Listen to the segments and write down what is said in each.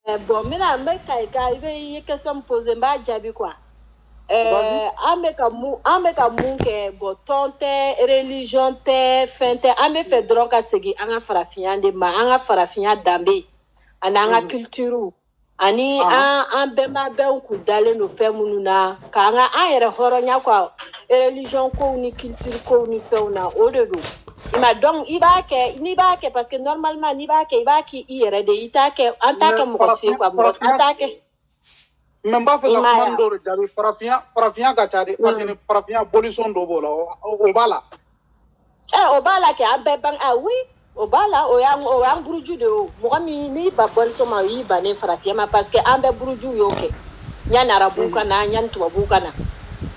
Eh, bon n bɛna n bɛ ka i ka i bɛ i ye question min pose n b'a jaabi quoi ɛɛ an bɛ ka mun an bɛ ka mun kɛ bon tɔn tɛ religion tɛ fɛn tɛ an b'a fɛ dɔrɔn ka segin an ka farafinya de ma an ka farafinya danbe ani an ka culture ani an an bɛnba bɛɛ kun dalen don fɛn minnu na k'an ka an yɛrɛ hɔrɔnya quoi religion kow ni culture kow ni fɛnw na o de don I ma donc i b'a kɛ n'i b'a kɛ parce que normalement n'i b'a kɛ i b'a k'i i yɛrɛ de i t'a kɛ an t'a kɛ mɔgɔ si ye quoi mɔgɔ an t'a kɛ mais n b'a fɛ ka kuma in dɔw de jaabi farafinya farafinya ka ca de parce que farafinya bolisɔn dɔ b'o la o b'a la ɛ o b'a la kɛ an bɛɛ ban a oui o b'a la o y'an o y'an buruju de ye o mɔgɔ min n'i ban bolisɔn ma o y'i bannen farafinya ma parce que an bɛɛ burujuw y'o kɛ yanni arabuw ka na yanni tubabuw ka na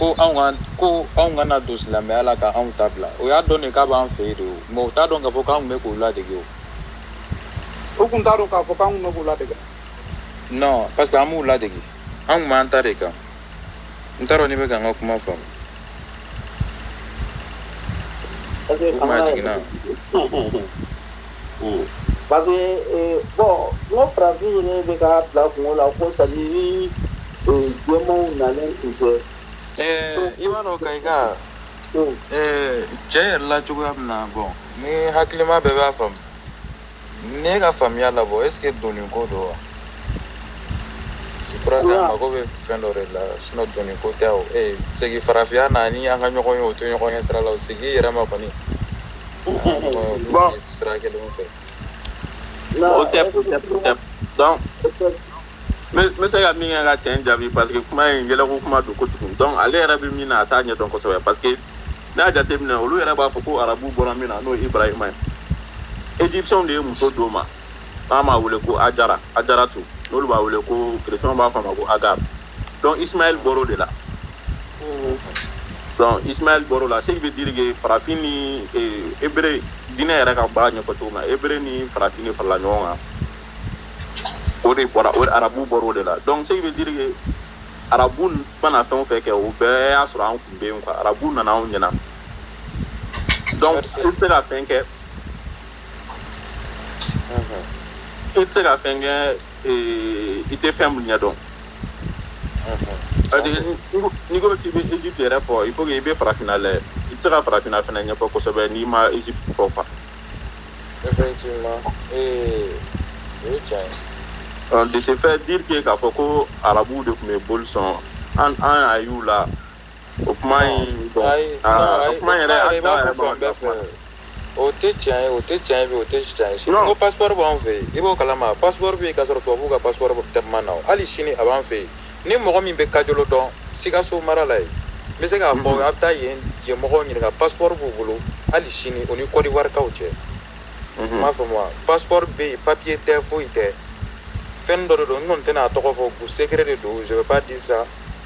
ko ko anw kana don silamɛya la ka anw ta bila o y'a dɔn de k'a b'an fɛ yen de o mais u t'a dɔn k'a fɔ k'an tun bɛ k'u ladege o u kun t'a dɔn k'a fɔ k'an tun bɛ k'u ladege non parce que an b'u ladege an tun b'an ta de kan n t'a dɔn n'i bɛ ka n ka kuma faamu o kuma jiginna Parce que bon farafin ne bɛ ka bila kun la ko sa na fɛ ɛɛ i b'a ka i ka ɛɛ cɛ yɛrɛ la cogoya min na bon ni hakilima bɛɛ b'a faamu ne ka faamuya la bon est-ce que dɔnniko don wa mago bɛ fɛn dɔ de la sinon dɔnniko tɛ segin farafinya na ni an ka ɲɔgɔn ye o to ɲɔgɔn ye sira la segin yɛrɛ ma kɔni Bon. C'est vrai que le fait, o tɛ, o tɛ, o tɛ. Donc, n bɛ se ka min kɛ ka cɛ in jaabi parce que kuma in yɛlɛko kuma don kojugu donc ale yɛrɛ bɛ min na a t'a ɲɛdɔn kosɛbɛ parce que n'a y'a jateminɛ olu yɛrɛ b'a fɔ ko arabu bɔra min na n'o ye ibrahima ye égyptienw de ye muso d'o ma an b'a wele ko ajara ajaratu n'olu b'a wele ko chrétienw b'a fɔ a ma ko agar donc ismaɛl bɔra o de la donc ismaɛl bɔra o la ce qui veut dire que farafin ni hébreu diinɛ yɛrɛ ka b'a ɲɛfɔ cogo min na hébreu ni farafin de farala ɲɔgɔn kan o de bɔra o arabu bɔra o de la donc ce qui veut dire que arabu mana fɛn o fɛn kɛ o bɛɛ y'a sɔrɔ an kun bɛ yen arabu nana anw ɲɛna donc i tɛ se ka fɛn kɛ i tɛ se ka fɛn kɛ i tɛ fɛn min ɲɛ dɔn n'i ko k'i bɛ Egypte yɛrɛ fɔ il faut que i bɛ farafinna lajɛ i tɛ se ka farafinna fana ɲɛfɔ kosɛbɛ n'i ma Egypte fɔ quoi. effectivement ee o ye tiɲɛ ye. Donc de ce fait dire que k'a fɔ ko arabuw de tun bɛ boli sɔn an an y'a y'u la o kuma in bon ayi aa, non, o ayi, kuma in yɛrɛ a i b'a dan yɛrɛ fɔ fan bɛɛ fɛ o tɛ tiɲɛ ye o tɛ tiɲɛ ye bi o tɛ tiɲɛ ye sini Non. ko passeport b'an fɛ yen i b'o kalama passeport bɛ yen k'a sɔrɔ tubabuw ka passeport tun ma na o hali sini a b'an fɛ yen ni mɔgɔ min bɛ kajolo dɔn sikaso mara la yen n bɛ se k'a fɔ a bɛ taa yen yen mɔgɔw ɲininka passeport b'u bolo hali sini o ni Côte d'Ivoire kaw cɛ i m'a faamu wa passeport bɛ yen papier tɛ foyi tɛ fɛn dɔ de don n kɔni tɛna a tɔgɔ fɔ u secret de don je vais pas dire ça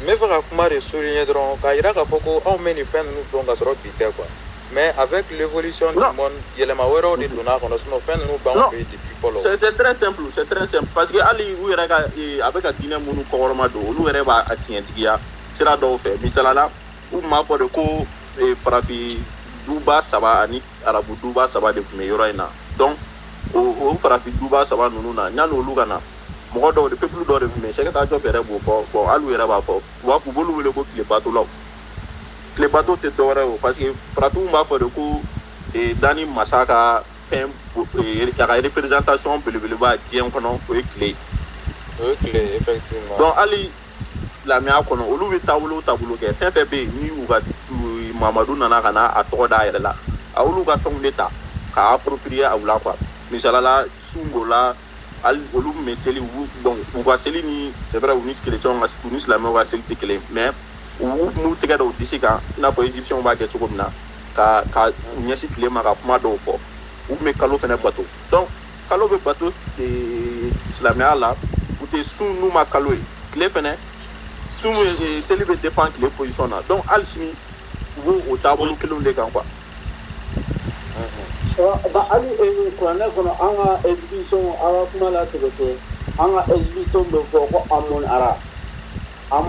n bɛ fɛ ka kuma de souligner dɔrɔn k'a jira k'a fɔ ko anw bɛ nin fɛn ninnu dɔn ka sɔrɔ bi tɛ quoi mais avec l'évolution du monde yɛlɛma wɛrɛw de donna a kɔnɔ sinon fɛn ninnu b'anw fɛ yen depuis fɔlɔ. c'est c'est très simple c'est très simple parce que hali u yɛrɛ ka eh, a bɛ ka diinɛ minnu kɔkɔrɔmadon olu yɛrɛ b'a tiɲɛtigiya sira dɔw fɛ misala la u tun b'a fɔ de ko eh, farafin duba saba ani arabu duba saba de tun bɛ yɔrɔ in na donc o o farafin duba saba ninnu na yanni olu ka na mɔgɔ dɔw de peuple dɔw de tun bɛ yen Cheikh Anta Diop yɛrɛ b'o fɔ bon hali u yɛrɛ b'a fɔ u b'a fɔ b'olu wele ko tile batolaw tile bato tɛ dɔwɛrɛ o parce que farafinw b'a fɔ de ko eh, danni masa ka fɛn eh, a ka représentation belebeleba diɲɛ kɔnɔ o ye tile ye o ye tile ye effectivement donc hali silamɛya kɔnɔ olu bɛ taabolo o taabolo kɛ fɛn fɛn bɛ yen ni u ka u- mamadu nana ka na a tɔgɔ d'a yɛrɛ la a y'olu ka fɛnw de ta k'a approprier a u la quoi misalala sun b'o la hali olu tun bɛ seli u bon u ka seli ni c'est vrai u ni chrétiens ka u ni silamɛw ka seli tɛ kelen ye mais u u tun b'u tɛgɛ da u disi kan i n'a fɔ égyptiens b'a kɛ cogo min na ka ka u ɲɛsin tile ma ka kuma dɔw fɔ u tun bɛ kalo fana bato donc kalo bɛ bato ee, silamɛya la u tɛ sun n'u ma kalo ye tile fana sun ye ee, seli bɛ dépend tile position na donc hali sini u b'o o taabolo kelenw de kan quoi Hali kuranɛ kɔnɔ an ka ala kuma la tigɛ kɛ an ka ez bɛ fɔ ko an mɔn ara an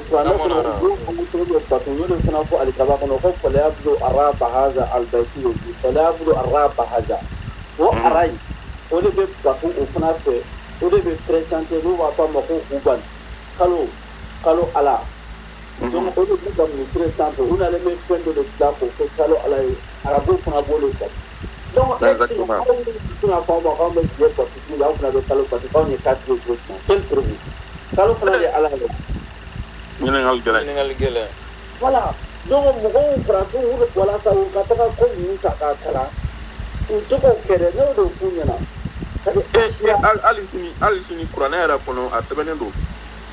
kuranɛ kɔnɔ de fana fɔ ali kaba kɔnɔ ko faya don arazsa aliyi gɛlɛya don arazsa o arayi o de bɛ ba o fana fɛ o de bɛ pere n'u b'a fɔ a ma ko kulubali kalo kalo ala donc o de b'u ka misiri sanfɛ u nalen bɛ fɛn dɔ de dilan k'o kɛ kalo Ala ye arabuw fana b'o de bato donc est ce que mɔgɔ minnu bɛ sin k'a fɔ aw ma k'anw bɛ tile bato su la aw fana bɛ kalo bato k'anw ye kafiri ye cogo jumɛn quelle preuve kalo fana de ye Ala ye ɲininkali gɛlɛn ɲininkali gɛlɛn voilà donc mɔgɔw farafinw walasa u ka taga ko ninnu ta k'a kalan u tɛ k'o kɛ dɛ ne y'o de f'u ɲɛna c'est à dire Eh, eh, hali hali sini hali sini kuranɛ yɛrɛ kɔnɔ a sɛbɛnnen don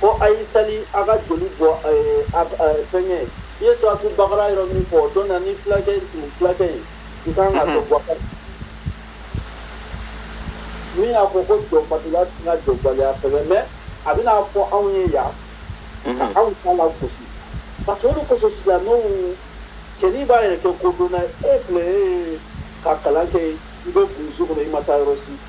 ko a ye sali a ka joli bɔ fɛnkɛ i ye suratul bakara yɔrɔ min fɔ don na ni fulakɛ in fulakɛ in i kan ka to bɔ min y'a fɔ ko jɔnbatila tɛna jɔnbaliya sɛbɛn mais a bɛna fɔ anw ye yan ka anw ta lagosi parce que o de kosɔn silamɛw cɛnin b'a yɛrɛ kɛ kodɔnna e filɛ ka kalan kɛ i bɛ burusi kɔnɔ i ma taa yɔrɔ si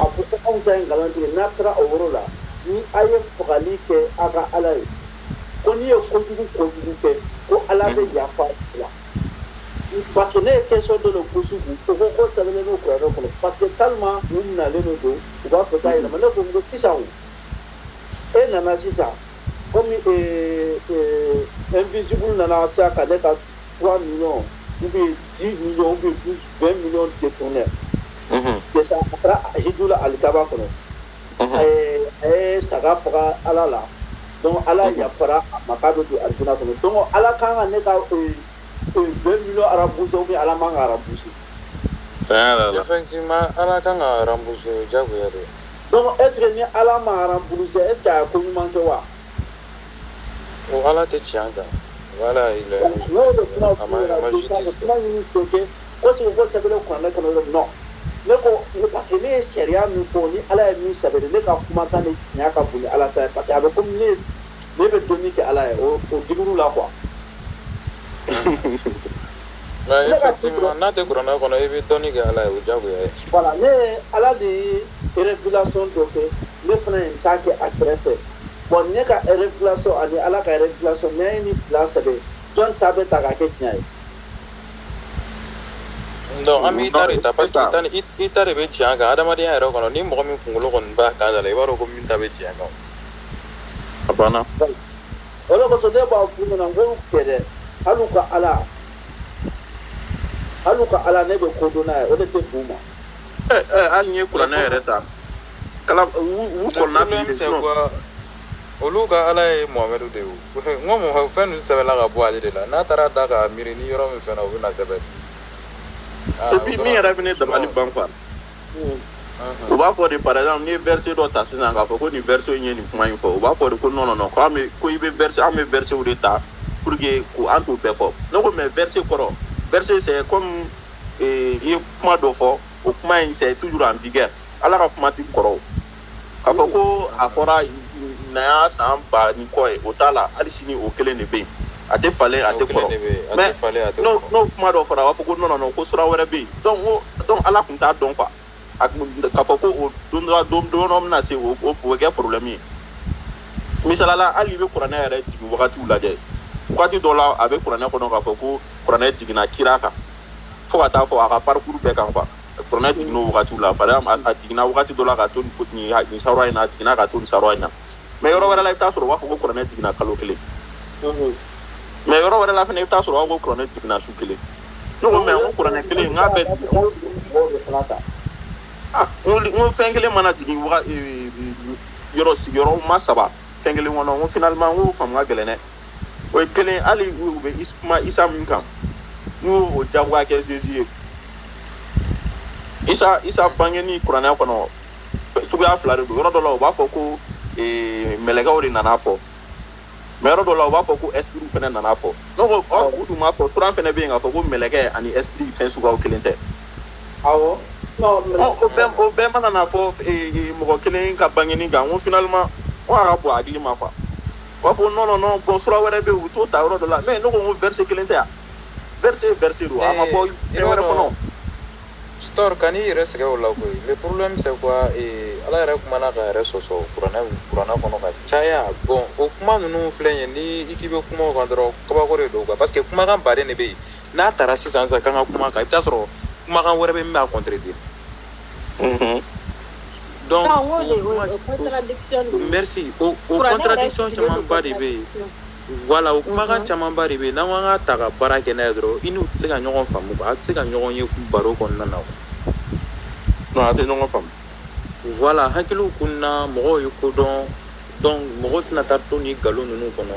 a ko ko anw ta ye nkalontigɛ n'a taara o yɔrɔ la ni a ye fagali kɛ a ka ala ye ko n'i ye kojugu kojugu kɛ ko ala bɛ yafa la parce que ne ye question dɔ de gosi u ko ko k'o sɛbɛnnen don kuranɛ kɔnɔ parce que tellement u minalen de don u b'a fɛ k'a yɛlɛma ne ko n ko sisan o e nana sisan komi invisible nana sisan ka ne ka 3 millions ou bien 10 millions ou bien 12, 20 millions de détournés. Mm -hmm. Déjà, après, Hidoula Al-Kaba, mm -hmm. et Saga Fara Ala la. Donc, Ala mm -hmm. Yafara, Makado de Arjuna. Donc, Ala Kanga Neka, 20 millions arabes, ou bien Ala Manga arabes. Effectivement, Ala Kanga arabes, Jago Yadou. Donc, est-ce que ni Ala Manga arabes, est-ce qu'il y a un communement de Wa? O ala tɛ tiɲɛ kan voilà a ma a ma justice kɛ. Ko si k'o sɛbɛnnen kuranɛ kɔnɔ non ne ko parce que ne ye sariya min fɔ ni ala ye min sɛbɛn ne ka kumakan de tiɲɛ ka bon ni ala ta ye parce que a bɛ komi ne ne bɛ dɔnni kɛ ala ye o o degré la quoi. Nka effectivement n'a tɛ kuranɛ kɔnɔ i bɛ dɔnni kɛ ala ye o diyagoya ye. Voilà ne ye ala de ye révélation dɔ kɛ. ne fana ye n ta kɛ a kɛrɛfɛ bon ne ka révélation ani ala ka révélation ne ye nin fila sɛbɛn jɔn ta bɛ ta k'a kɛ tiɲɛ ye non an b'i ta de ta parce que i ta ni i ta de bɛ tiɲɛ kan adamadenya yɛrɛ kɔnɔ ni mɔgɔ min kunkolo kɔni b'a kan da la i b'a dɔn ko min ta bɛ tiɲɛ kan a banna o de kosɔn ne b'a f'u ɲɛna n ko kɛ dɛ hali u ka ala hali u ka ala ne bɛ ko dɔn n'a ye o de tɛ f'u ma hali n'i ye kuranɛ yɛrɛ ta kala u kɔnɔna bi de non olu ka ala ye mohamɛdu de ye n ko mɔgɔ fɛn ninnu sɛbɛnna ka bɔ ale de la n'a taara da ka miiri ni yɔrɔ min fɛn na o bɛna sɛbɛn et puis min yɛrɛ bɛ ne dabali ban quoi u b'a fɔ de par exemple n'i ye verset dɔ ta sisan k'a fɔ ko nin verset in ye nin kuma in fɔ u b'a fɔ de ko non non non ko an bɛ ko i bɛ verset an bɛ versetw de ta pour que ko an t'u bɛɛ fɔ ne ko mais verset kɔrɔ verset c'est comme i ye kuma dɔ fɔ o kuma in c'est toujours en vigueur ala ka kuma tɛ kɔrɔ k'a fɔ ko a fɔra nin y'a san ba ni kɔ ye o t'a la hali sini o kelen de bɛ yen a tɛ falen a tɛ kɔrɔ n'o kuma dɔ fɔra a b'a fɔ ko non non ko sura wɛrɛ bɛ yen donc ala tun t'a dɔn quoi k'a fɔ ko o don dɔ don dɔ bɛna se o o bɛ kɛ problème ye misali la hali i bɛ kuranɛ yɛrɛ jigin wagatiw lajɛ wagati dɔ la a bɛ kuranɛ kɔnɔ k'a fɔ ko kuranɛ jiginna kira kan fo ka taa fo a ka parcours bɛɛ kan quoi kuranɛ jiginna o wagatiw la par exemple a jiginna wagati dɔ la ka to nin sawura in na a jiginna ka to nin sawura in na mais yɔrɔ wɛrɛ la i bɛ t'a sɔrɔ u b'a fɔ ko kuranɛ jiginna kalo kelen mais yɔrɔ wɛrɛ la fana i bɛ t'a sɔrɔ u b'a fɔ ko kuranɛ jiginna su kelen ne ko mais n ko kuranɛ kelen n k'a bɛ n ko fɛn kelen mana jigin yɔrɔ sigiyɔrɔma saba fɛn kelen kɔnɔ n ko finalement n ko faamu ka gɛlɛn dɛ o ye kelen hali u bɛ kuma isa min kan n'u y'o o jagoya kɛ Jésus ye isa isa bangeni kuranɛ kɔnɔ suguya fila de don yɔrɔ dɔ la u b'a fɔ ko ee, mɛlɛkɛw de nan'a fɔ mais yɔrɔ dɔ la u b'a fɔ ko espritw fana nan'a fɔ ne ko ɔ u dun b'a fɔ kuran fana bɛ yen k'a fɔ ko mɛlɛkɛ ani esprit fɛn suguyaw kelen tɛ awɔ non mais Ɔ, o bɛɛ o bɛɛ mana na fɔ ee, ee, mɔgɔ kelen ka bangeni kan n ko finalement n ko a ka bon hakili ma quoi U b'a fɔ non non non bon sura wɛrɛ bɛ yen u t'o ta yɔrɔ dɔ la mais ne ko n ko verset kelen tɛ wa verset verset don a ma bɔ fɛn wɛrɛ kɔnɔ o. Sitor kan'i yɛrɛ sɛgɛn o la koyi le problème c'est quoi ee Ala yɛrɛ kumana k'a yɛrɛ sɔsɔ kuranɛ kuranɛ kɔnɔ ka caya bon o kuma ninnu filɛ nin ye ni i k'i bɛ kuma o kan dɔrɔn kabako de don quoi parce que kumakan baden de bɛ yen n'a tara sisan sisan k'an ka kuma kan i bɛ taa sɔrɔ kumakan wɛrɛ bɛ yen min b'a contredire Donc, non, o, de, o, o contradiction de merci o, o contradiction camanba de bɛ yen voilà o kumakan camanba de bɛ yen n'an ko an k'a ta ka baara kɛ n'a ye dɔrɔn i n'u tɛ se ka ɲɔgɔn faamu a tɛ se ka ɲɔgɔn ye baro kɔnɔna na non a tɛ ɲɔgɔn faamu voilà hakiliw kunna mɔgɔw ye ko dɔn donc mɔgɔ tɛna taa to nin nkalon ninnu kɔnɔ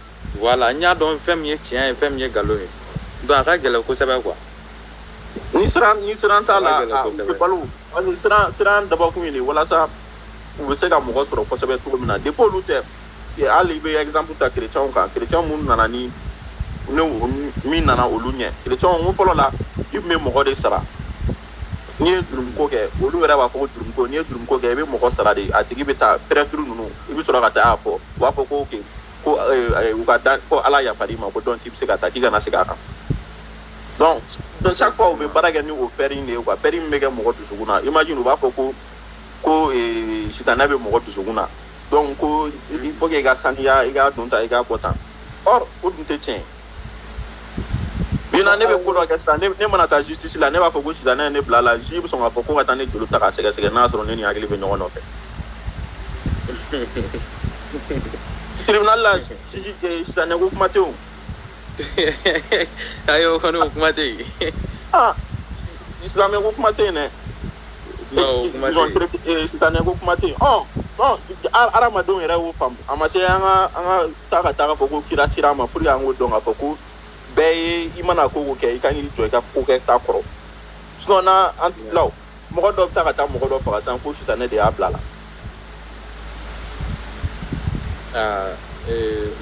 Voilà n y'a dɔn fɛn min ye tiɲɛ ye fɛn min ye nkalon ye donc a ka gɛlɛn kosɛbɛ quoi ni siran ni siran t'a la u tɛ balo siran siran dabɔkun ye walasa u bɛ se ka mɔgɔ sɔrɔ kosɛbɛ cogo min na depuis olu tɛ hali i bɛ exemple ta kirecɛnw kan kirecɛn minnu nana ni ne min nana olu ɲɛ kirecɛnw ko fɔlɔ la i tun bɛ mɔgɔ de sara n'i ye jurumuko kɛ olu yɛrɛ b'a fɔ ko jurumuko n'i ye jurumuko kɛ i bɛ mɔgɔ sara de a tigi bɛ taa prêtre ninnu i bɛ sɔrɔ ka taa a fɔ u b'a fɔ ko ok ko eh, eh, u ka da ko ala yafar'i ma ko donc k'i bɛ se ka taa k'i kana segin a kan donc donc chaque fois u bɛ baara kɛ ni o peur in de ye quoi peur min bɛ kɛ mɔgɔ dusukun na imagine u b'a fɔ ko ko eh, sitanɛ bɛ mɔgɔ dusukun na donc ko il faut que i ka saniya i ka don tan i ka bɔ tan or o dun tɛ tiɲɛ ye bi na ne bɛ ko dɔ kɛ sisan ne mana taa justice la ne b'a fɔ ko sitanɛ ye ne bil'a la juge bɛ sɔn k'a fɔ ko ka taa ne joli ta k'a sɛgɛsɛgɛ n'a sɔrɔ ne ni hakili bɛ ɲɔgɔn nɔfɛ tribunal la juge eh, sitanɛ ko kuma tɛ o ayi o kɔni o kuma tɛ yen ah silamɛ ko kuma tɛ yen dɛ sitanɛ ko kuma tɛ yen ɔ ɔ hadamadenw yɛrɛ y'o faamu a ma se an ka an ka taa ka t'a fɔ ko kira cira an ma pour que an k'o dɔn k'a fɔ ko bɛɛ ye i mana ko o ko kɛ i ka n'i jɔ i ka kokɛta kɔrɔ sinon na an ti tila o mɔgɔ dɔ bɛ taa ka taa mɔgɔ dɔ faga sisan ko sitanɛ de y'a bila la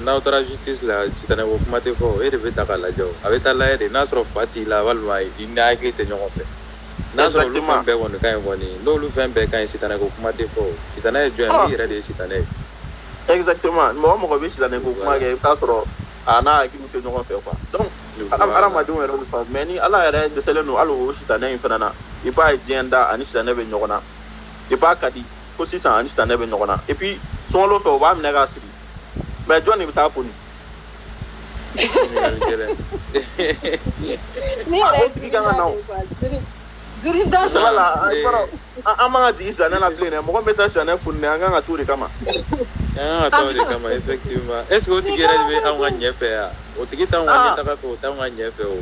n'aw taara justice la sitanɛ ko kuma tɛ fɔ e de bɛ ta k'a lajɛ o a bɛ t'a lajɛ de n'a sɔrɔ fa t'i la walima i n'i hakili tɛ ɲɔgɔn fɛ n'a sɔrɔ olu fɛn bɛɛ kɔni ka ɲi kɔni n'olu fɛn bɛɛ ka ɲi sitanɛ ko kuma tɛ fɔ o sitanɛ ye jɔn ye i yɛrɛ de ye sitanɛ ye exactement mɔgɔ o mɔgɔ bɛ sitanɛ ko kuma kɛ i bɛ t'a sɔrɔ a n'a hakiliw tɛ ɲɔgɔn fɛ quoi donc hadamadenw yɛrɛ bɛ faamu mais ni ala yɛrɛ dɛsɛlen don hali o sitanɛ in fana na i b'a ye diɲɛ da a ni sitanɛ bɛ ɲɔgɔn na i b'a ka di ko sisan a ni sitanɛ bɛ ɲɔgɔn na et puis sunkalo fɛ o b'a minɛ k'a siri mais jɔn de bɛ t'a foni ne yɛrɛ ye ziiri kan ka na o ziiri da sɛbɛ la an man ka jigin sitanɛ na bilen dɛ mɔgɔ bɛ taa sitanɛ foni an kan ka taa o de kama an kan ka taa o de kama effectivement est ce que o tigi yɛrɛ de bɛ anw ka ɲɛ fɛ yan o tigi t'anw ka ɲɛtaga fɛ o t'anw ka ɲɛ fɛ o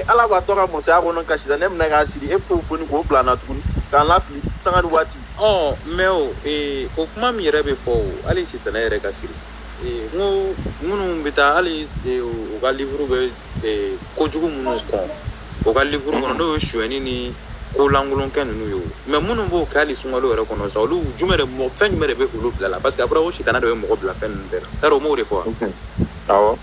ala bɛ to a ka masaya kɔnɔ ka sitanɛ minɛ k'a siri e bɛ t'o foni k'o bila an na tuguni k'an lafili sanga ni waati ɔ mais o ee, o kuma min yɛrɛ bɛ fɔ o hali sitanɛ yɛrɛ ka siri ee, n ko minnu bɛ taa hali ee, u ka livre bɛ ee, kojugu minnu kɔn o ka livre kɔnɔ n'o ye sonyɛni ni ko lankolon kɛ ninnu ye o mais minnu b'o kɛ hali sunkalo yɛrɛ kɔnɔ sa olu jumɛn de mɔgɔ fɛn jumɛn de bɛ olu bila la parce que a fɔra ko sitanɛ de bɛ mɔgɔ bila fɛn ninnu bɛɛ la yarɔ u m'o de fɔ wa awɔ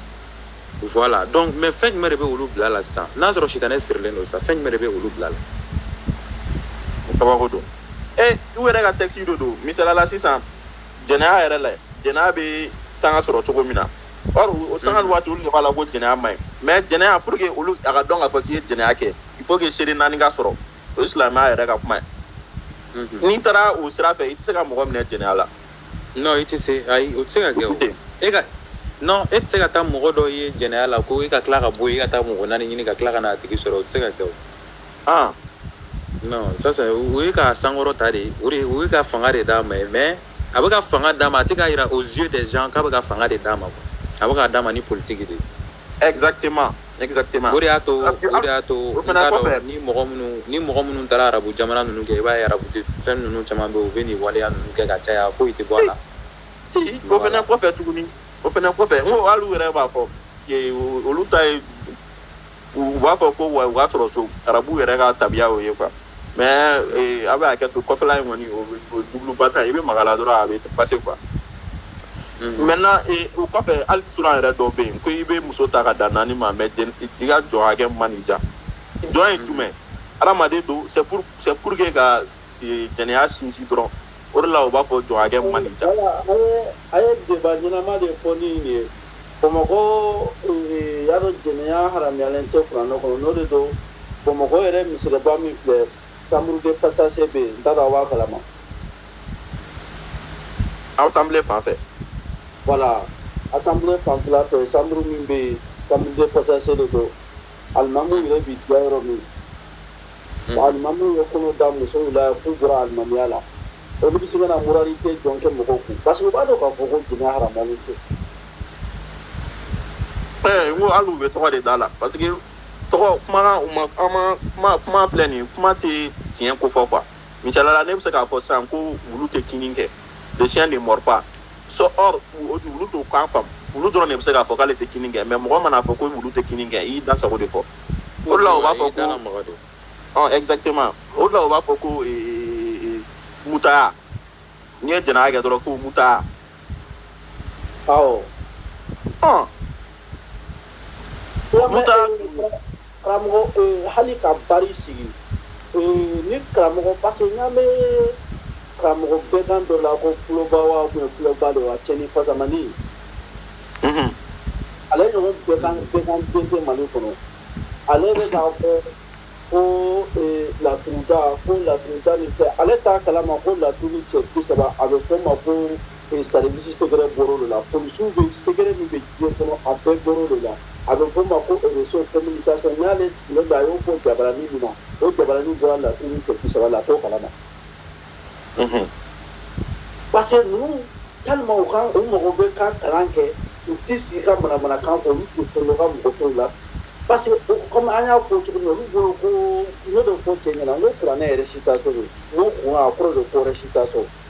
voilà donc mais fɛn jumɛn de bɛ olu bila la sisan n'a sɔrɔ sitanɛ sirilen don sa fɛn jumɛn de bɛ olu bila la kabako don e u yɛrɛ ka texte dɔ don misali la sisan jɛnɛya yɛrɛ la jɛnɛya bɛ sanga sɔrɔ cogo min na Or o sanga ni waati olu de b'a la ko jɛnɛya man ɲi mais jɛnɛya pour que olu a ka dɔn k'a fɔ k'i ye jɛnɛya kɛ il faut que seere naani ka sɔrɔ o ye silamɛya yɛrɛ ka kuma ye mhm. n'i taara o sira fɛ i tɛ se ka mɔgɔ minɛ jɛnɛya la non i tɛ se ayi o tɛ se ka kɛ o e ka non e tɛ se ka taa mɔgɔ dɔ ye jɛnɛya la ko i ka tila ka bɔ yen i ka taa mɔgɔ naani ɲini ka tila ka na a tigi sɔrɔ o tɛ se ka kɛ o ah non sisan o ye k'a sankɔrɔta de o de o ye ka fanga de d'a ma mais a bɛ ka fanga d'a ma a tɛ k'a yira aux yeux des gens k'a bɛ ka fanga de d'a ma a bɛ k'a d'a ma ni politiki de ye. exactement exactement o de y'a to o de y'a to n t'a dɔn ni mɔgɔ minnu ni mɔgɔ minnu taara arabu jamana ninnu kɛ i b'a ye arabu fɛn ninnu caman bɛ yen u bɛ nin waleya ninnu kɛ ka caya foyi tɛ bɔ a la. o fana kɔfɛ tuguni o fana kɔfɛ n ko hali u yɛrɛ b'a fɔ olu ta ye u b'a fɔ ko wa u ka sɔrɔ so arabu yɛrɛ ka tabiya o ye quoi mais eh, aw bɛ hakɛ to kɔfɛla in kɔni o bɛ- o ye dubuluba ta ye i bɛ maga a la dɔrɔn a bɛ passer quoi maintenant eh, o kɔfɛ hali suran yɛrɛ dɔw bɛ yen ko i bɛ muso ta ka dan naani ma mais den- i ka jɔn hakɛ man'i diya jɔn ye jumɛn hadamaden don c'est pour c'est pour que ka ee, jɛnɛya sinsin dɔrɔn o de la u b'a fɔ jɔn hakɛ man ɲi ja Wala, a ye a ye débat ɲɛnama de fɔ ni nin ye bamakɔ ee, y'a dɔn jɛnɛya haramuyalen tɛ kuranɛ kɔnɔ n'o de don bamakɔ yɛrɛ misiriba min filɛ chambre de passage bɛ yen n t'a dɔn a b'a kalama assemblée fan fɛ voilà assemblée fanfɛla fɛ chambre min bɛ yen chambre de passage de don alimamu yɛrɛ b'i diya yɔrɔ min Alimamiw ye kɔnɔ da musow la k'u bɔra alimamiya la olu bɛ se ka na moralité jɔn kɛ mɔgɔw kun parce que u b'a dɔn k'a fɔ ko jɛnɛya haramulen tɛ ɛɛ n ko hali u bɛ tɔgɔ de da la parce que tɔgɔ kuma u ma kuma kuma kuma filɛ nin kuma tɛ tiɲɛ ko fɔ quoi misali la ne bɛ se k'a fɔ sisan ko wulu tɛ kinni kɛ le chien ne mord pas so or wulu t'o kan faamu wulu dɔrɔn de bɛ se k'a fɔ k'ale tɛ kinni kɛ mais mɔgɔ man'a fɔ ko wulu tɛ kinni kɛ i y'i da sago de fɔ o la u b'a fɔ ko exactement o la u b'a fɔ ko mutaya n'i ye jɛnɛya kɛ dɔrɔn ko mutaya Karamɔgɔ hali ka baro sigi ni karamɔgɔ parce que n y'a mɛn karamɔgɔ bɛgan dɔ la ko kuloba wa kuloba de wa cɛnin fasamannin ale ɲɔgɔn bɛganden tɛ mali kɔnɔ ale bɛ taa fɔ ko laturuda ko laturuda nin fɛ ale t'a kalama ko laturu cɛ bi saba a bɛ fɔ ma ko service secret bɔr'o de la polisiw bɛ secret min bɛ diɲɛ kɔnɔ a bɛɛ bɔr'o de la a bɛ fɔ ma ko réseau communication n'ale sigilen don a y'o fɔ jabarani min na o jabarani bɔra laturu cɛ bi saba la a t'o kalama parce que ninnu tellement u ka u mɔgɔ bɛ ka kalan kɛ u tɛ sigi ka manamanakan fɔ olu tɛ fɛn dɔ ka mɔgɔ tɔw la parce que comme an y'a fɔ cogo min olu bolo ko ne bɛ fɔ cɛ ɲɛna n ko kuranɛ récitation don n ko kuranɛ kɔrɔ de ko récitation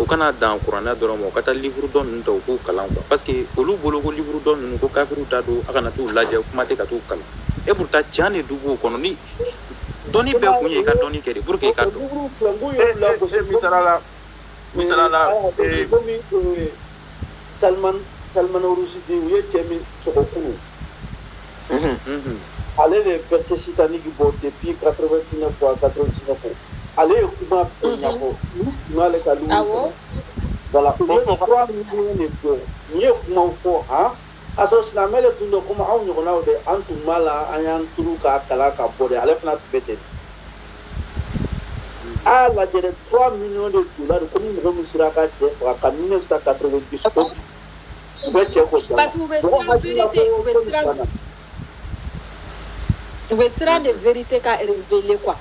o kana dan kuranɛ dɔrɔn ma u ka taa livuru tɔ ninnu ta u k'u kalan quoi parce que olu bolo ko livuru tɔ ninnu ko kafiriw ta don a kana t'u lajɛ kuma tɛ ka t'u kalan et pourtant can de dun b'o kɔnɔ ni dɔnni bɛɛ kun ye i ka dɔnni kɛ de pour que i ka dɔn misala la misala la Salman Salman Rushdie u ye cɛ min sɔgɔ kunun, unhun, unhun, ale de ye verset satanique bɔ depuis 89 ou 99 ale ye kuma bɛɛ ɲɛfɔ u tun b'ale ka livre kɔnɔ, awɔ, voilà u ye trois millions de bɔ u ye kumaw fɔ han K'a sɔrɔ silamɛ de tun don komi anw ɲɔgɔnnaw dɛ, an tun b'a la, an y'an turu k'a kalan ka bɔ dɛ, ale fana tun bɛ ten. A y'a lajɛ dɛ, 3 millions de tun b'a la ko ni mɔgɔ min sera ka cɛ faga ka 1990 fo bi, u bɛ cɛ kɔ jama, parce que u bɛ siran verite, u bɛ siran, u bɛ siran de verite ka reveler quoi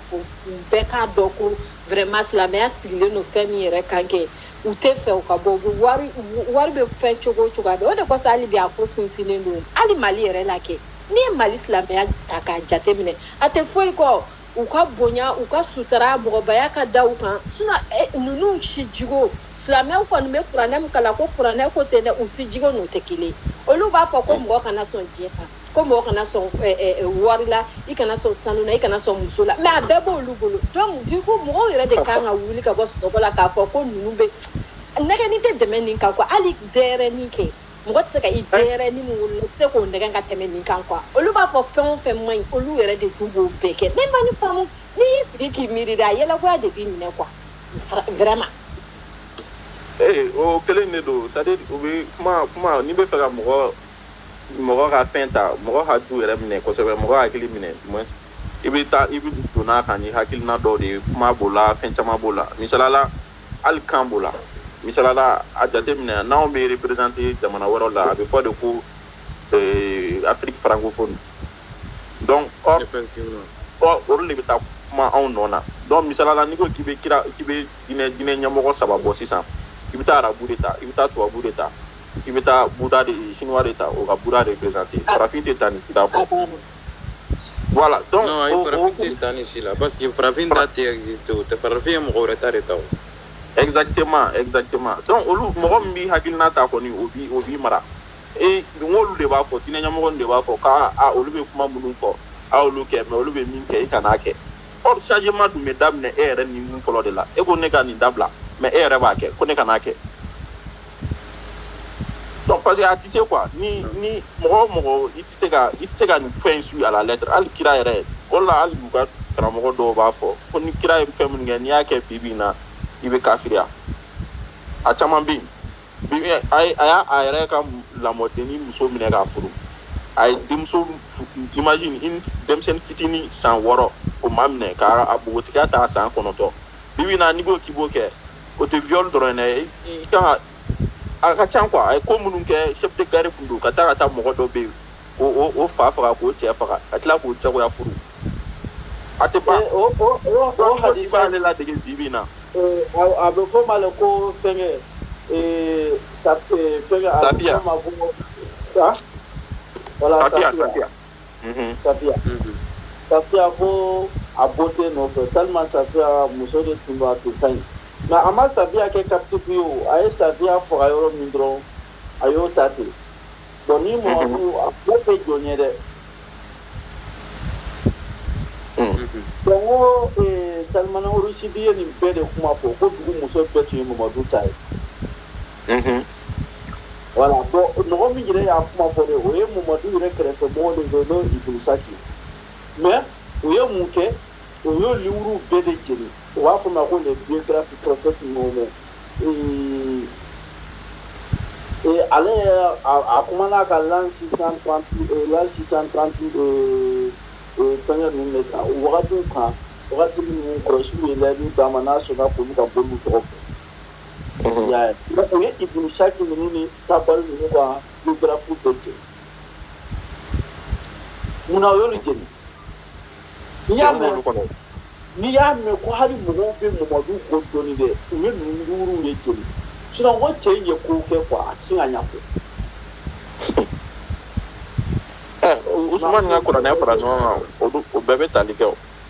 bɛɛ k'a dɔn ko vraiment silamɛya sigilen don fɛn min yɛrɛ kan kɛ u tɛ fɛ u ka bɔ u bɛ wari wari bɛ fɛn cogo o cogo a bɛ o de kosɔn hali bi a ko sinsinnen don hali mali yɛrɛ la kɛ n'i ye mali silamɛya ta k'a jateminɛ a tɛ foyi kɔ u ka bonya u ka sutara mɔgɔbaya ka da u kan sinon eh, ninnu si jigo silamɛw kɔni bɛ kuranɛ min kalan ko kuranɛ ko tɛ dɛ u si jigo n'o tɛ kelen olu b'a fɔ ko mɔgɔ kana sɔn diɲɛ kan ko mɔgɔ kana sɔn eh, eh, eh, wari la i kana sɔn sanu na i kana sɔn muso la mais a bɛɛ b'olu bolo donc du coup mɔgɔw yɛrɛ de kan ka wuli ka bɔ sunɔgɔ la k'a fɔ ko ninnu bɛ nɛgɛnni tɛ tɛmɛ nin kan quoi hali denyɛrɛnin kɛ mɔgɔ tɛ se ka i denyɛrɛnin min wolola i tɛ se k'o nɛgɛn ka tɛmɛ nin kan quoi olu b'a fɔ fɛn o fɛn man ɲi olu yɛrɛ de dun b'o bɛɛ kɛ ne ma nin faamu n'i y'i sigi k'i miiri de a yɛlɛkoya de b'i minɛ quoi Vra- vraiment ee o kelen de don c'est à dire o bɛ kuma kuma n'i bɛ fɛ ka mɔgɔ mɔgɔ ka fɛn ta mɔgɔ haju yɛrɛ minɛ kosɛbɛ mɔgɔ hakili minɛ i bɛ taa i bɛ don a kan ni hakilina dɔw de ye kuma b'o la fɛn caman b'o la misalala hali kan b'o la misalala a jateminɛ n'anw bɛ représenter jamana wɛrɛw la a bɛ fɔ de ko euh, Afrique francophone donc or ɔ olu de bɛ taa kuma anw nɔ na donc misalala n'i ko k'i bɛ kira k'i bɛ diinɛ diinɛ ɲɛmɔgɔ saba bɔ sisan i bɛ taa arabu de ta i bɛ taa tubabu de ta i bɛ taa buda de chinois de ta o ka buda représenter ah. farafin tɛ taa ni buda bɔ ah, voilà donc non ayi farafin tɛ taa ni si la parce que farafin ta tɛ exister o tɛ farafin ye mɔgɔ wɛrɛ ta de ta o exactement exactement donc olu mɔgɔ min b'i hakilina ta kɔni o b'i o b'i mara e n k'olu de b'a fɔ diinɛ ɲɛmɔgɔ de b'a fɔ k'a a olu bɛ kuma minnu fɔ a y'olu kɛ mais olu bɛ min kɛ i kan'a kɛ or changement dun bɛ daminɛ e yɛrɛ ni mun fɔlɔ de la e ko ne ka nin dabila mais e yɛrɛ b'a kɛ ko ne kan'a kɛ parce que a tɛ se quoi ni ni mɔgɔ o mɔgɔ i tɛ se ka i tɛ se ka nin fɛn in suit à la lettre hali kira yɛrɛ o la hali u ka karamɔgɔ dɔw b'a fɔ ko ni kira ye fɛn minnu kɛ n'i y'a kɛ bi bi in na i bɛ kafiriya a caman bɛ yen bi bi in a ye a y'a a yɛrɛ ka lamɔdennin muso minɛ k'a furu a ye denmuso fu- imagine une denmisɛnnin fitinin san wɔɔrɔ o maminɛ k'a a npogotigiya ta san kɔnɔntɔn bi bi in na n'i ko k'i b'o kɛ o tɛ viol dɔrɔn ye dɛ i kan ka a ka ca quoi a ye ko minnu kɛ chef de guerre tun don ka taa ka taa mɔgɔ dɔ bɛ yen o o o fa faga k'o cɛ faga ka tila k'o jagoya furu a tɛ ban Eh, o o o o donc djihadistes b'ale ladege bi bi in na eh, a a bɛ fɔ ma le ko fɛngɛ eh, sa- eh, fɛngɛ a bɛ Safiya. fɔ ma ko sa voilà Safiya, Safiya. safiya safiya ko a b'o de nɔfɛ tellement safiya muso de tun don a tun ka ɲi mais a ma safiya kɛ captif ye o a ye safiya faga yɔrɔ min dɔrɔn a y'o ta ten bɔn ni mamadu a b'o kɛ jɔn ye dɛ donc o salimana rusidi ye nin bɛɛ de kuma fɔ ko dugu muso bɛɛ tun ye mamadu ta ye wala bɔn mɔgɔ min yɛrɛ y'a kuma fɔ de o ye mumadu yɛrɛ kɛrɛfɛ mɔgɔ de don n'o ibn saki mais u ye mun kɛ o y'o liwuruw bɛɛ de jeni u b'a fɔ ma ko les biographies prophète mohamɛd ale a kumana ka l'an 630 l'an 630 fɛngɛ ninnu de kan o wagatiw kan wagati minnu kurayisiw ye layidu d'a ma n'a sɔnna k'olu ka boliw tɔgɔ fɔ Unhun. Ya, o o ye Ibn Saki ninnu ni Tabari ninnu ka biographies bɛɛ jeni. Munna o y'olu jeni? N'i y'a mɛn ko hali mɔgɔw bɛ Mamadu ko dɔnni dɛ, u ye ninnu liwuru de jeni. Sinon ko cɛ in ye ko kɛ quoi a tɛ se ka ɲɛfɔ. Ɛ, Usumani ka kuranɛ fara ɲɔgɔn kan, olu, o bɛɛ bɛ tali kɛ o.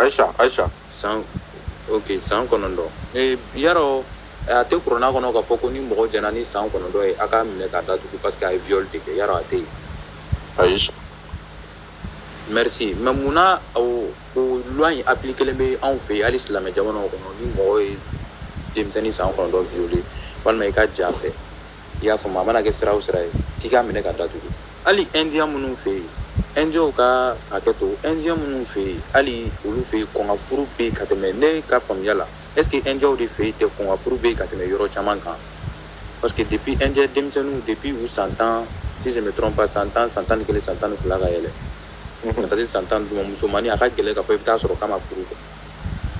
Ayisa ayisa san ok san kɔnɔntɔn yarɔ a tɛ kurana kɔnɔ k'a fɔ ko ni mɔgɔ jɛnna ni san kɔnɔntɔn ye a k'a minɛ k'a datugu parce que a ye viol de kɛ yarɔ a tɛ yen ayi merci mais munna o loi in appliquélen bɛ anw fɛ yen hali silamɛ jamana kɔnɔ ni mɔgɔ ye denmisɛnnin san kɔnɔntɔn violer walima i ka j'a fɛ i y'a faamu a mana kɛ sira o sira ye k'i k'a minɛ k'a datugu hali indiya minnu fɛ yen indiyaw ka hakɛ to indiya minnu fɛ yen hali olu fɛ yen kɔn ka furu bɛ yen ka tɛmɛ ne ka faamuya la est ce que indiyaw de fɛ yen tɛ kɔn ka furu bɛ yen ka tɛmɛ yɔrɔ caman kan parce que depuis indiya denmisɛnninw depuis u san tan si je me trompe pas san tan san tan ni kelen san tan ni fila ka yɛlɛ ka taa se san tan ni duuru ma musomannin a ka gɛlɛn k'a fɔ i bɛ taa sɔrɔ k'a ma furu kɛ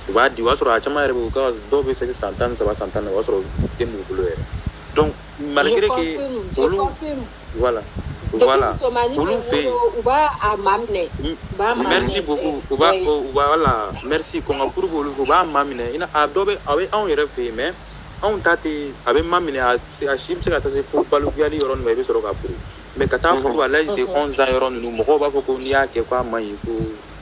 u b'a di o y'a sɔrɔ a caman yɛrɛ bɛ u ka dɔw bɛ se san tan ni saba san tan ni naani o y'a sɔrɔ den b'u bolo yɛrɛ donc malgré que olu voilà voilà olu fɛ yen u b'a a maminɛ merci beaucoup u b'a u b'a voilà merci kɔn ka furu b'olu fɛ u b'a maminɛ i n'a a dɔ bɛ a bɛ anw yɛrɛ fɛ yen mais anw ta tɛ a bɛ maminɛ a a si bɛ se ka taa se fo balikuyali yɔrɔ ninnu ma i bɛ sɔrɔ ka furu mais ka taa furu à l'âge de 11 ans yɔrɔ ninnu mɔgɔw b'a fɔ ko n'i y'a kɛ k'a man ɲi ko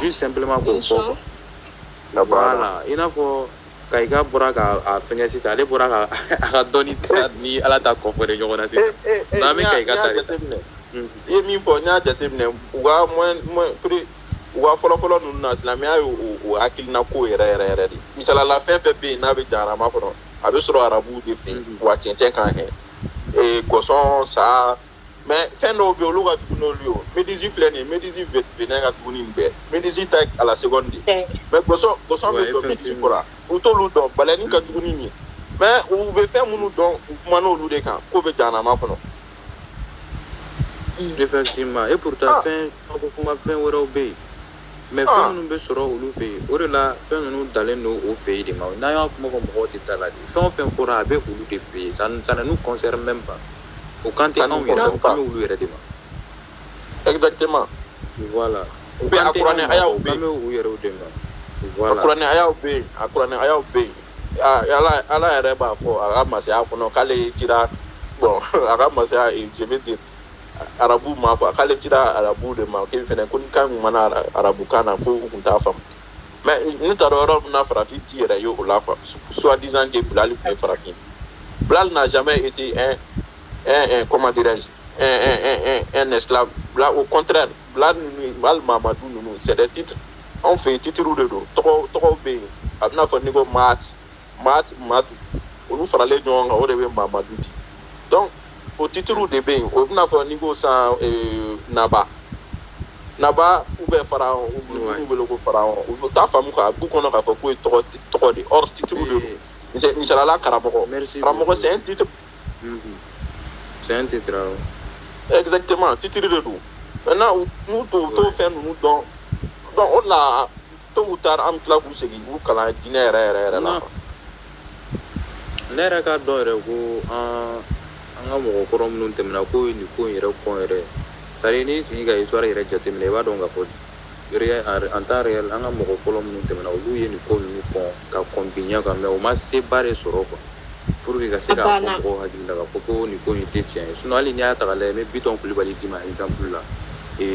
juste simplement k'o fɔ quoi voilà i n'a fɔ ka i ka bɔra ka a fɛngɛ sisan ale bɔra ka a ka dɔnni ta ni ala ta kɔfɛ de ɲɔgɔn na sisan n'an bɛ ka i ka ta de ta i ye min fɔ n y'a jateminɛ u ka moyen moyen prix u ka fɔlɔfɔlɔ ninnu na silamɛya ye o hakilina ko yɛrɛ yɛrɛ yɛrɛ de misali la fɛn fɛn bɛ yen n'a bɛ jahanama kɔnɔ a bɛ sɔrɔ arabuw de fɛ yen wa cɛncɛn kan hɛ gɔsɔn sa mais fɛn dɔw bɛ olu ka jugu n'olu ye méduse filɛ nin ye méduse venin ka jugu nin bɛɛ méduse ta à la seconde de mais gɔsɔn gɔsɔn bɛ dɔn méduse kɔrɔ u t'olu dɔn baleine ka jugu nin ye mais u bɛ fɛn minnu dɔn u kuman'olu de kan k'o bɛ jahanama kɔnɔ effectivement et pourtant ah. fɛn ko kuma fɛn wɛrɛw bɛ yen mais ah. fɛn minnu bɛ sɔrɔ olu fɛ yen o de la fɛn ninnu dalen don o fɛ yen de mais n'an y'a kuma fɔ mɔgɔw tɛ d'a la dɛ fɛn o fɛn fɔra a bɛ olu de fɛ yen ça ne nous concerne même pas o kan tɛ anw yɛrɛ o kan bɛ olu yɛrɛ de ma exactement voilà o kan tɛ anw ma o kan bɛ u yɛrɛw de ma voilà a kuranɛ ayaw bɛ yen a kuranɛ ayaw bɛ yen ala ala yɛrɛ b'a fɔ a ka masaya kɔnɔ k'ale cira bɔn a ka masaya je veux dire arabu ma quoi k'ale cira arabu de ma k'e fɛnɛ ko ni kan kun ma na arabukan na ko u kun t'a faamu mais ne taara yɔrɔ min na farafin t'i yɛrɛ ye o la quoi soi-disant que bilali tun ye farafin bilali n'a jamais été un un un comment dirais-je un un un un un esclave bila au contraire bila ninnu hali mamadu ninnu c'est des titres anw fɛ yen titiriw de don tɔgɔ tɔgɔw bɛ yen a bɛna fɔ n'i ko maati maa maa du olu faralen ɲɔgɔn kan o de bɛ mamadu di donc o titiriw de bɛ yen o bɛna fɔ n'i ko san eh, naba naba ou bien pharaon u b'u wele ko pharaon u t'a faamu k'a b'u kɔnɔ k'a fɔ k'o ye tɔgɔ tɔgɔ de or titiriw de don Misal- misalala karamɔgɔ karamɔgɔ c'est un titre Mhm. C'est un titre, awɔ. exactement titiri de don maintenant u n'u t'o u t'o Ouais. fɛn ninnu dɔn donc o de la tôt ou tard an bɛ tila k'u segin k'u kalan diinɛ yɛrɛ yɛrɛ yɛrɛ la ne yɛrɛ k'a dɔn yɛrɛ ko an an ka mɔgɔ kɔrɔ minnu tɛmɛna k'o ye nin ko in yɛrɛ kɔn yɛrɛ c'est-à-dire n'i sigi ka histoire yɛrɛ jateminɛ i b'a dɔn k'a fɔ en temps réel an ka mɔgɔ fɔlɔ minnu tɛmɛna olu ye nin ko ninnu kɔn ka kɔn bi ɲɛ kan mais u ma seba de sɔrɔ quoi pour que ka se k'a fɔ mɔgɔw hakili la k'a fɔ ko nin ko in tɛ tiɲɛ ye hali n'i y'a ta k'a lajɛ n bɛ bitɔn kulubali d'i ma exemple la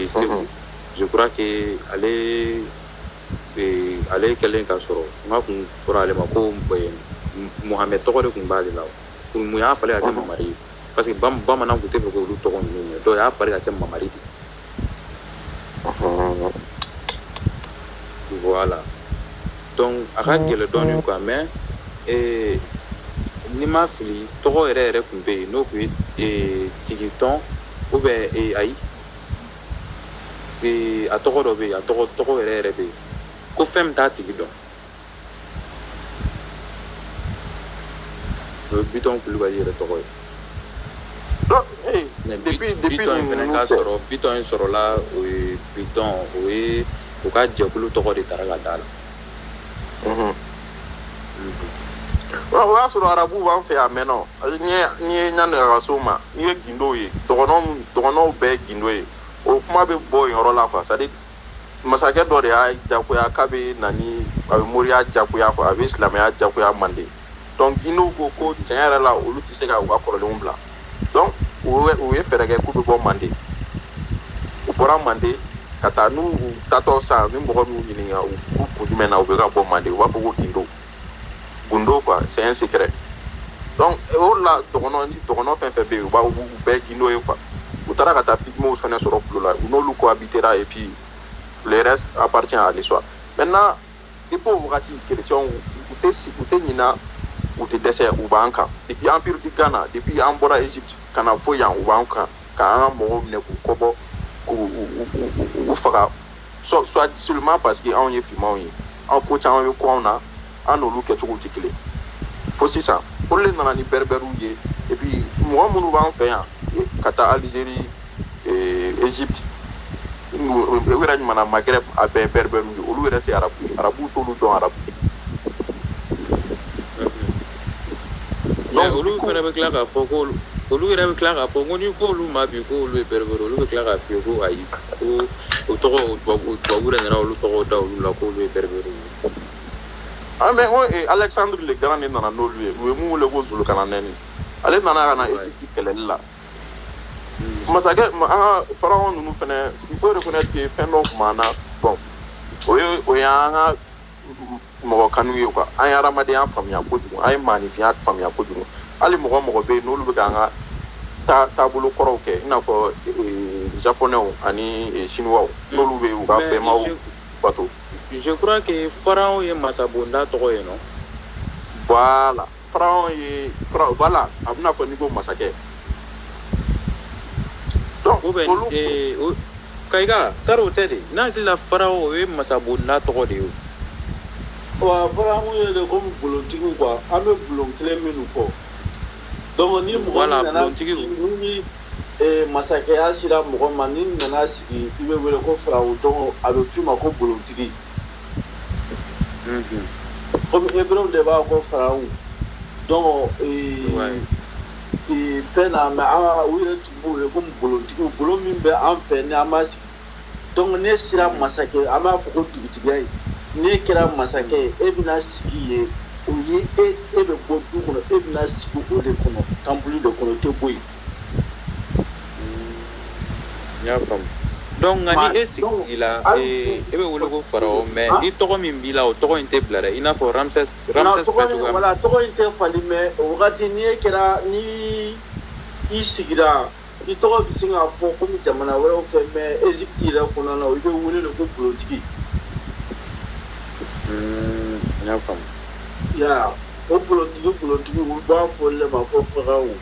segu je crois que ale ale kɛlen ka sɔrɔ n'a tun fɔra ale ma ko mohamed tɔgɔ de tun b'ale la pour mun y'a falen ka kɛ mamari ye parce que bamanan tun tɛ fɛ k'olu tɔgɔ ninnu mɛn donc y'a falen ka kɛ mamari de voilà donc a ka gɛlɛn dɔɔnin quoi mais ni n ma fili tɔgɔ yɛrɛ yɛrɛ tun bɛ yen n'o tun ye tigitɔn ou bien ayi ee a tɔgɔ dɔ bɛ yen a tɔgɔ tɔgɔ yɛrɛ yɛrɛ bɛ yen ko fɛn min t'a tigi dɔn o ye bitɔn kulubali yɛrɛ tɔgɔ ye bitɔn in fana ka sɔrɔ bitɔn in sɔrɔla o ye bitɔn o ye u ka jɛkulu tɔgɔ de taara ka d'a la o y'a sɔrɔ arabu b'an fɛ yan maintenant n'i ye ɲani ka so ma n'i ye gindow ye dɔgɔnɔw bɛɛ ye gindo ye o kuma bɛ bɔ yen yɔrɔ la quoi c'est à dire masakɛ dɔ de y'a jagoya k'a bɛ na ni a bɛ moriya jagoya quoi a bɛ silamɛya jagoya manden donc gindow ko ko tiɲɛ yɛrɛ la olu tɛ se ka u ka kɔrɔlenw bila donc u ye fɛɛrɛ kɛ k'u bɛ bɔ manden u bɔra manden ka taa n'u taatɔ sa ni mɔgɔ min y'u ɲininka ko kun jumɛn na u bɛ ka bɔ manden u b'a fɔ ko gindo gundo quoi c'est un secret donc o la dɔgɔnɔ ni dɔgɔnɔ fɛn fɛn bɛ yen u b'a u bɛɛ gindo ye quoi u taara ka taa pigmew fɛnɛ sɔrɔ kulu la u n'olu cohabitera et puis le reste appartient à l'histoire maintenant depuis o wagati kerecɛnw u tɛ u tɛ ɲina u tɛ dɛsɛ u b'an kan depuis empire du Ghana depuis an bɔra Egypte ka na fo yan u b'an kan ka an ka mɔgɔw minɛ k'u kɔbɔ k'u faga soit seulement parce que anw ye finmanw ye anw ko caman bɛ ko anw na an n'olu kɛcogow tɛ kelen fo sisan olu de nana ni bɛribɛriw ye et puis mɔgɔ minnu b'an fɛ yan ka taa Algérie ee, Egypte u yɛrɛ ɲuman na Maghreb a bɛɛ bɛribɛriw ye olu yɛrɛ tɛ arabu ye arabuw t'olu dɔn arabu mais olu fana bɛ tila k'a fɔ ko olu olu yɛrɛ bɛ tila k'a fɔ ko n'i k'olu ma bi k'olu ye bɛribɛri olu bɛ tila k'a f'i ye ko ayi ko o tɔgɔ o tubabu tubabu yɛrɛ nana olu tɔgɔ da olu la k'olu ye bɛribɛri ye Ah, mais oh, eh, Alexandre le Grand de nana n'olu ye u ye min wele ko Zulukaranɛni ale nana ka na Egypte kɛlɛli la masakɛ an ka pharaon ninnu fana il faut reconnaître que fɛn dɔ tun b'an na bon o ye an ka mɔgɔ kanu ye quoi an ye adamadenya faamuya kojugu an ye maaninfinya faamuya kojugu hali mɔgɔ mɔgɔ bɛ yen n'olu bɛ k'an ka taabolo kɔrɔw kɛ i n'a fɔ japonais ani chinois n'olu bɛ u ka bɛnba bato je crois que pharaon ye masabonda tɔgɔ ye non voilà Pharaon ye pharaon voilà a b'i n'a fɔ n'i ko masakɛ donc ou bien olu ee, o- kayika tari o tɛ de ne hakili la pharaon o ye masabonda tɔgɔ de ye o. wa pharaon ye de komi bulontigiw quoi an bɛ bulon kelen minnu fɔ donc ni mɔgɔ Voilà, min nana bulontigiw. sigi- ni eh, masakɛya sera mɔgɔ ma n'i nana sigi i bɛ wele ko pharaon donc a bɛ f'i ma ko bulontigi comme heburew de b'a ko pharaon donc fɛn na mais u yɛrɛ tun b'u wele ko bulontigiw bulon min bɛ an fɛ ni an b'a sigi donc ne sera masakɛ an b'a fɔ ko dugutigiya ye ne kɛra masakɛ ye e bɛna sigi yen o ye e e bɛ bɔ du kɔnɔ e bɛna sigi o de kɔnɔ kamabulon de kɔnɔ tɛ bɔ yen N y'a faamu donc nka ni e sigila e bɛ wele ko Farao mais i tɔgɔ min b'i la o tɔgɔ in tɛ bila dɛ i n'a fɔ Ramses Ramses filɛ cogoya min na voilà tɔgɔ in tɛ falen mais o wagati ni e kɛra ni i sigira i tɔgɔ bɛ se ka fɔ komi jamana wɛrɛw fɛ mais Egypte yɛrɛ kɔnɔna na i bɛ wele de ko Bolontigi. N y'a faamu. I y'a ye wa o Bolontigi Bolontigi u b'a fɔ olu de ma ko Farao.